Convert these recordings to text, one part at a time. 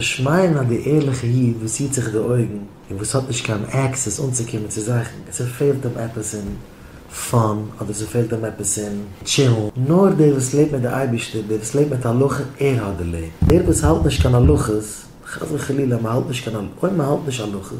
איך מיין אז די ערליכע איד וואס היט זיך די אויגן און וואס האט נישט קיין עקסעס אנצוקומען צו זאכן, ס'פעלט אים עפעס אין פאן אדער ס'פעלט אים עפעס אין טשילן, נאר דער וואס לעבט מיט די אייבערשטער, דער וואס לעבט מיט הלכה, ער האט די לעבן, דער וואס האלט נישט קיין הלכות, חס וחלילה מען האלט נישט קיין, אויב מען האלט נישט הלכות,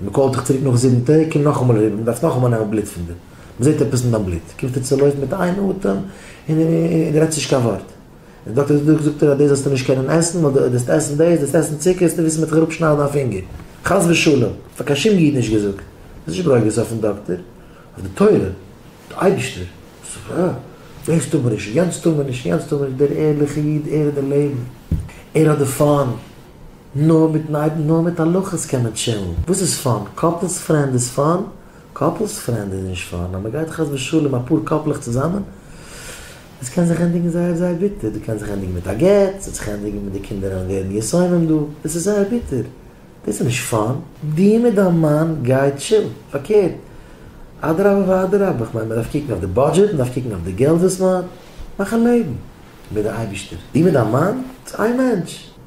מען קאלט דיך צוריק נאך זיבן טעג, קום נאכאמאל אריבער, מען דארף נאכאמאל נעמען בלוט פון דיר, מען זעט עפעס אין דיין בלוט, קומסטו צו לויפן מיט איין אטעם, און דו רעדסט נישט קיין ווארט, דער דאקטער זאגט דיר, זאגט ער אז דאס זאלסטו נישט קענען עסן, ווייל דו וועסט עסן דאס, דו וועסט עסן צוקער, וועסטו וויסן מען וועט דיך אראפ שניידן א פינגער, חס ושלום, פאר קיין שום איד נישט געזאגט, זיי נישט ברוגז אויפן דאקטער, אויף די תורה, אויף די אייבישטער, אה, דאס טאר מען נישט, און יענץ טאר מען נישט, און יענץ טאר מען נישט, דער ערליכע איד, ער האט די לעבן, ער האט די פאן, נאר מיטן איידעם נאר מיט הלכות קען מען טשילן, וואס איז פאן? קאפלס פרענד איז פאן? קאפלס פרענד איז נישט פאן אז מען גייט חס ושלום אפאר קאפלעך צוזאמען, עס קען זיך ענדיגן זייער זייער ביטער, דא קען זיך ענדיגן מיט א גט, ס'עט זיך ענדיגן מיט די קינדער וועלן ווערן יתומים דא, דאס איז זייער ביטער, דאס איז נישט פאן. דו מיט דיין מאן גייט טשילן, פארקערט, אדרבה ואדרבה, איך מיין מען דארף קוקן אויף די באדזשעט, מען דארף קוקן אויף די געלט וואס מען האט, מאך א לעבן מיט די אייבישטער, דו מיט דיין מאן, איז איין מענטש.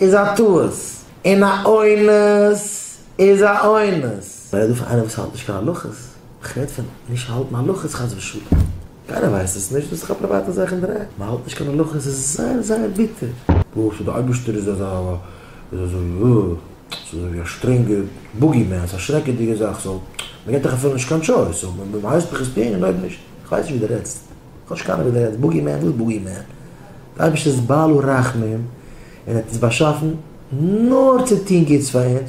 איז א טעות, און א אונס איז א אונס. כ'רעד דא פון איינער וואס האלט נישט קיין הלכות, כ'רעד פון נישט האלטן הלכות חס ושלום, קיינער ווייסט עס נישט, דאס איז דאך א פריוואטע זאך אין דר'עק, מען האלט נישט קיין הלכות איז זייער זייער ביטער. וואס איז די אייבערשטער איז אזא איז אזוי ס'איז אזוי ווי א שטרענגע בוגי מען ס'איז א שרעקעדיגע זאך סאו מען געט דיך אפילו נישט קיין טשויס סאו מ'הייסט דיך עס טוהן און אויב נישט כ'ווייס נישט ווי די רעדסט. כאטש קיינער וואס דער בוגי מען וואס בוגי מען? דער אייבערשטער איז בעל הרחמים און ער האט אונז באשאפן נאר צו טון גוטס פאר אונז.